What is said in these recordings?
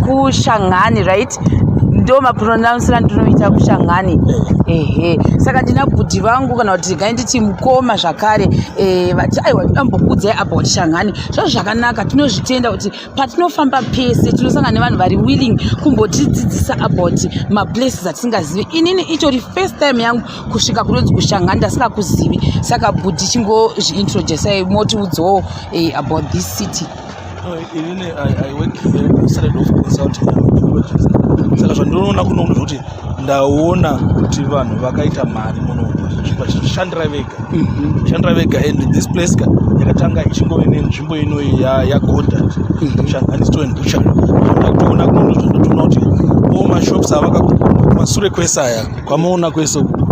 kushangani right ndo mapronouncer andinoita kushangani ehe saka ndina bhudhi vangu kana kuti gai nditi mukoma zvakare eh, vati aiwa ndambokudzai apa kuti shangani zvazvo zvakanaka tinozvitenda kuti patinofamba pese tinosangana nevanhu vari willing kumbotidzidzisa about maplaces atisingazivi inini itori first time yangu kusvika kunonzi kushangani ndasingakuzivi saka bhudhi chingozviintroducei motiudzawo eh, about this city No, even I, I work here instead of consulting technologies. Saka zvandinoona kuno kuno zvekuti ndaona kuti vanhu vakaita mari muno vachishandira vega mhm. shandira vega and this place ka yakatanga ichingove nenzvimbo ino yagoda mhm. shanganistondoona kuno zvandinoona kuti o mashops avaka kumasure kwese aya kwamaona kwese uku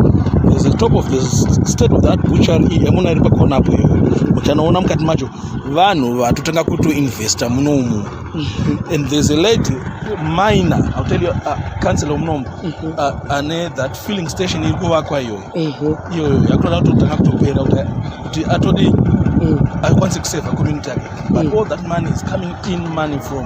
the top of the state of that butchery yamuna iri pakona apo iyo muchanoona mukati macho vanhu vatotanga kutoinvesta muno umu mhm. and there's a lady minor i'll tell you uh, council omunomu mhm. uh, ane that filling station iri kuvakwa iyoyo mhm. iyoyo yakutoda kutotanga kutopera kuti atodi mm. akwanise kuseva community yake but mm. all that money is coming in money from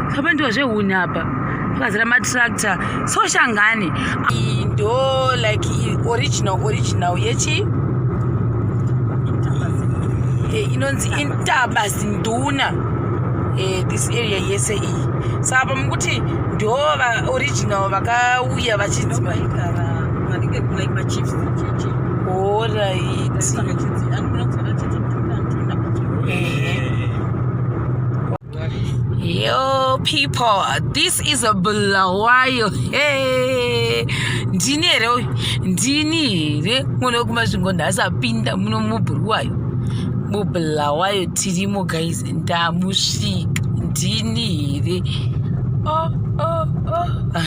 apa ndiwo zvehuni apa pakazara matractor so shangani ndo like original original yechi eh, inonzi intaba zinduna eh, this area yese iyi so apa mukuti ndo vaoriginal vakauya vachinziva Yo people, this is a Bulawayo. Hey, ndini here uyu? Ndini here mwana wekumasvingo nhasi apinda muno mubhuruwayo? MuBulawayo tirimo guys, ndamusvika. Ndini here? Oh, oh, oh.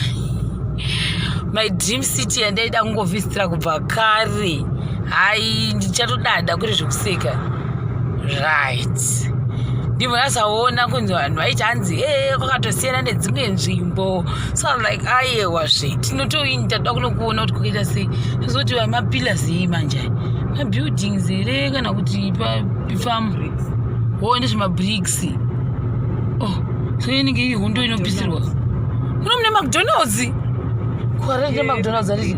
My dream city yandaida kungovisitira kubva kare. Hayi, ndichatodada kuri zvekuseka. right ndibva ndasaona kunzi vanhu vaiti hanzi ee kwakatosiyana nedzimwe nzvimbo so im like ayewa zve tinotoini tatoda kunokuona kuti kukaita sei zvozoti vamapillars yei manje mabuildings here kana kuti pafam ho ndezvemabricks o oh, so inenge ii hondo inopisirwa kuno mune macdonalds kuarere macdonalds arii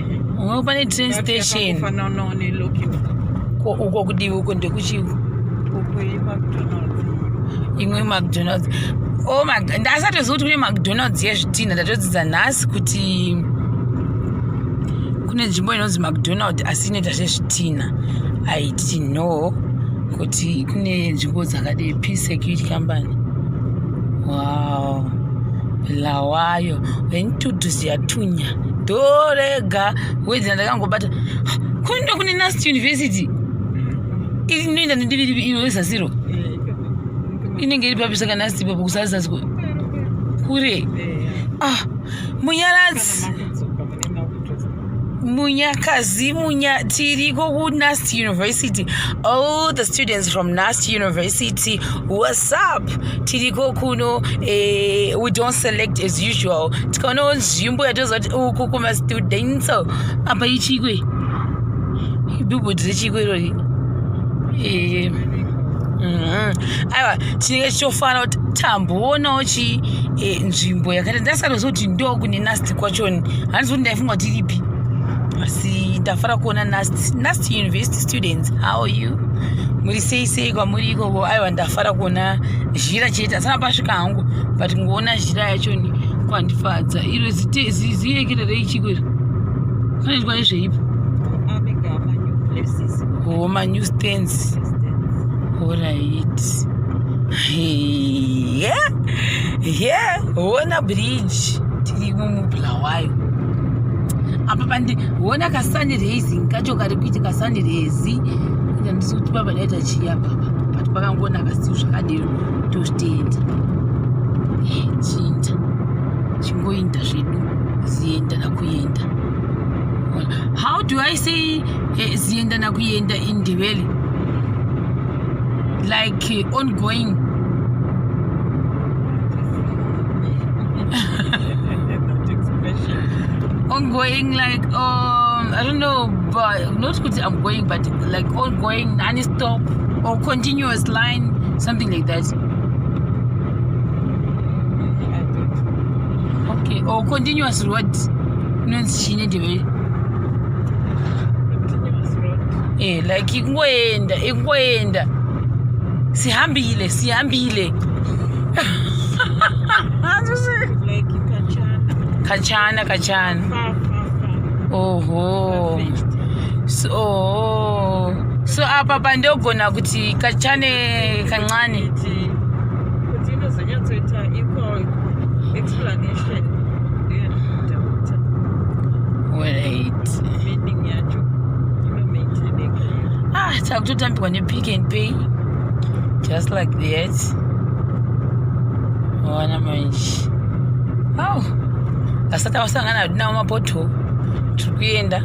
uno pane train station uko kudivi uko ndekuchii imwe macdonalds oh ndasatoziva kuti kune macdonalds yezvitinha ndatodzidza nhasi kuti kune nzvimbo inonzi macdonald asi inoita zvezvitinha i didn't know kuti kune nzvimbo dzakadei p security company wow lawayo venituduzi yatunya ndorega wedzera ndakangobata kunoenda kune nast university iri inoenda nedivi rivi iro rezasiro inenge iri papi saka nast ipapo kusazasi kure ah munyaradzi Munyakazi Munya Tiriko Nast University. All the students from Nast University, what's up? tiriko kuno uh, we don't select as usual tikaonawo nzvimbo yatoziva kuti uku kumastudent so apa ichikwe ibhibhu dziri chikwe irori eh, mhm. aiwa chinenge chichofana kuti tamboonawo chi eh, nzvimbo yakaita ndasatoziva kuti ndo kune nasti kwachoni handizi kuti ndaifunga kuti iripi asi ndafara kuona nasti nasti university students how you muri sei sei kwamuri ikoko aiwa ndafara kuona zhira chete asana pasvika hangu but kungoona zhira yacho ni kwandifadza iro ziyekererei chiko iri kanoitwa nezveipo ho manew stands orit ye ye hona bridge tiri mumubulawayo apa pandi hona kasanirezi kacho kari kuiti kasanirezi ndandisi kuti papa daita chiya but kwakangonaka siu zvakadero tozvitenda chiinda chingoinda zvedu zienda nakuenda how do i say eh, zienda nakuenda in ndevele like eh, ongoing ongoing like um, i don't know but not kuti i'm going but like ongoing nani stop or continuous line something like that okay or continuous road inonzi chii nedevere eh like ikungoenda ikungoenda sihambile sihambile kachana kachana oho so so apa pandogona kuti kachane kancane kuti inozonyatsoita equal explanation ah takutotambirwa nepick and pay just like that wana manje aw asati awasangana hadinawo mapoto tiri kuenda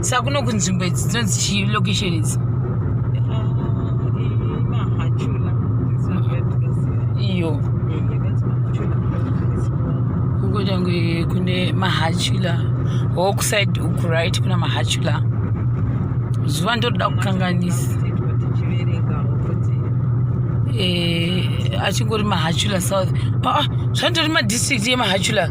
sa kuno kunzvimbo idzi dzinonzi chii location idzi iyo ukotange kune mahachula hokuside uku right kuna mahachula zuva ndotoda kukanganisa eh, achingori mahachula south aa ah, ah, zvanditori madistrict yemahachula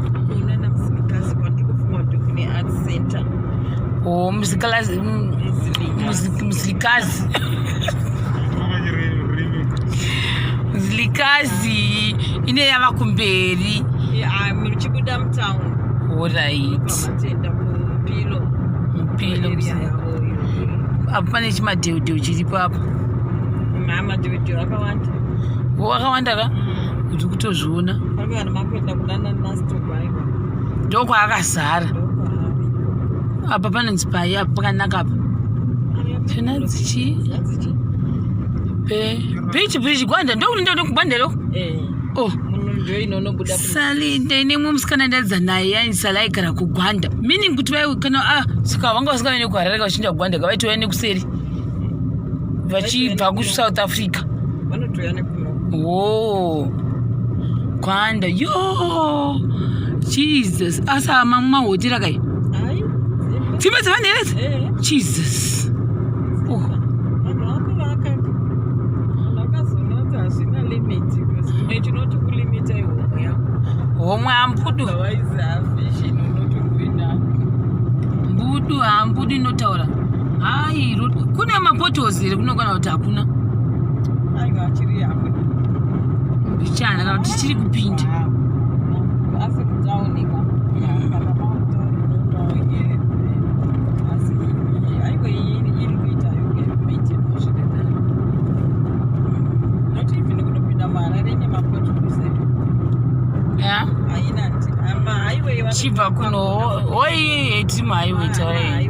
Oh, mzikazi mzilikazi mzilikazi ine yava kumberi chibuda mutown orit mpilo apo pane chimadheudheu chiripo apo akawanda ka kuti kutozviona ndokwaakazara apa panonzi pai apa pakanaka apa tinanzi chii bhichi bhichi gwanda ndokunenda kuda kugwanda loko eh. oh. salinde ine mwe musikana ndaidza naye yaisala aigara kugwanda meaning kuti vai kana ah, saka vanga vasika vaine kuharareka vachiinda kugwanda ka vaitouya nekuseri vachibva kusouth africa wo gwanda yo jesus asi amamwe mahotera kai dzimba dzevanhu here dzi eh. jesus homwe ambudu mbudu ambudu inotaura hai kune mapotos here kunokwana kuti hakuna mbichana kana kuti chiri kupinda chibva kuno hoiyeyetima aiwetaei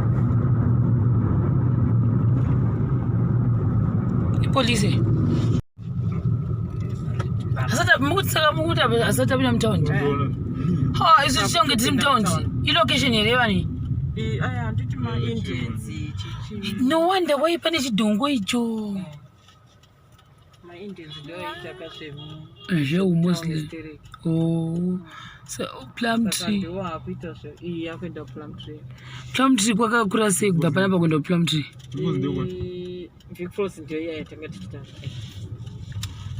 ipolice mukutisaka mukuti asati apinda mutaundi ha isu tichonge tiri mutaundi ilocation here vani no wonder waipa nechidhongo icho zveumuslim oh. plum tree plum tree kwakakura sei kubva panapa kuenda kuplum tree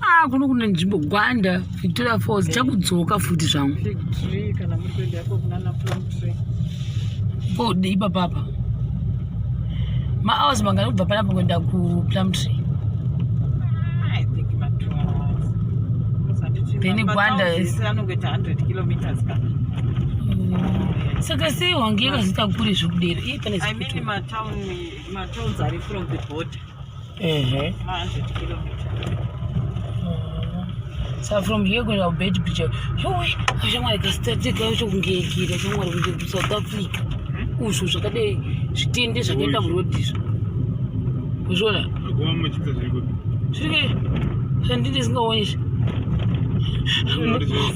ah kuno kune nzvimbo gwanda Victoria Falls chakudzoka futi zvangu. Ko dei papapa. Ma hours mangani kubva panapa kuenda ku Plum Tree. Then Gwanda is anongoita 100 kilometers ka. Mm. Saka sei wange yakazita kure zvekudero. Ii pane zvekuti. I mean ma town ma towns are from the border. Ehe. Ma 100 kilometers. So from here kuenda kubed bridge yowe shamwari kasitatika yacho kungeekira shamwari kunge kusouth africa hmm? uzvo zvakadai zvitende zvakaita murodi izvo uzviona zviri zvandii ndisingaoni izvi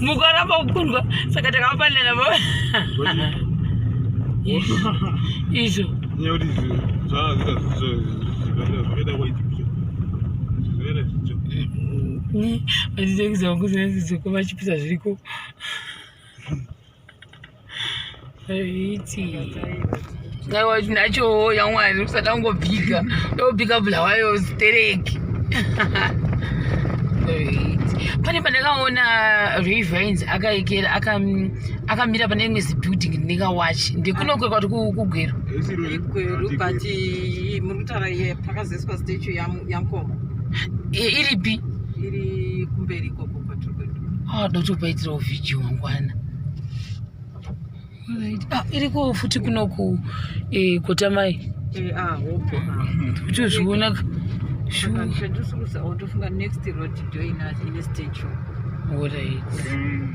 mukaramba kukundwa saka takapanana izvo Nyori zvazvita zvakaita kwaiti zvakaita zvicho. Vachitengesa wangu zvinazizoko vachipisa zviriko. Zviti. Ngaiwa chinacho yamwari usada kungobika. Ndobika bulawayo stereki. Zviti. pane pandakaona revinds akaikera aka akamira pane imwe zibuilding ndineka wachi ndekunokwekwa kuti kugweru igweru but muri kutaura iye pakazoiswa statue yamkoma iripi iri kumberi ikoko kwatiri kuenda ah, dotopaitirawo vhidhio wangwana ah, iriko futi kunoku eh, kotamai eh, ah, kuti uzviona shuotofunga next road join us in a statue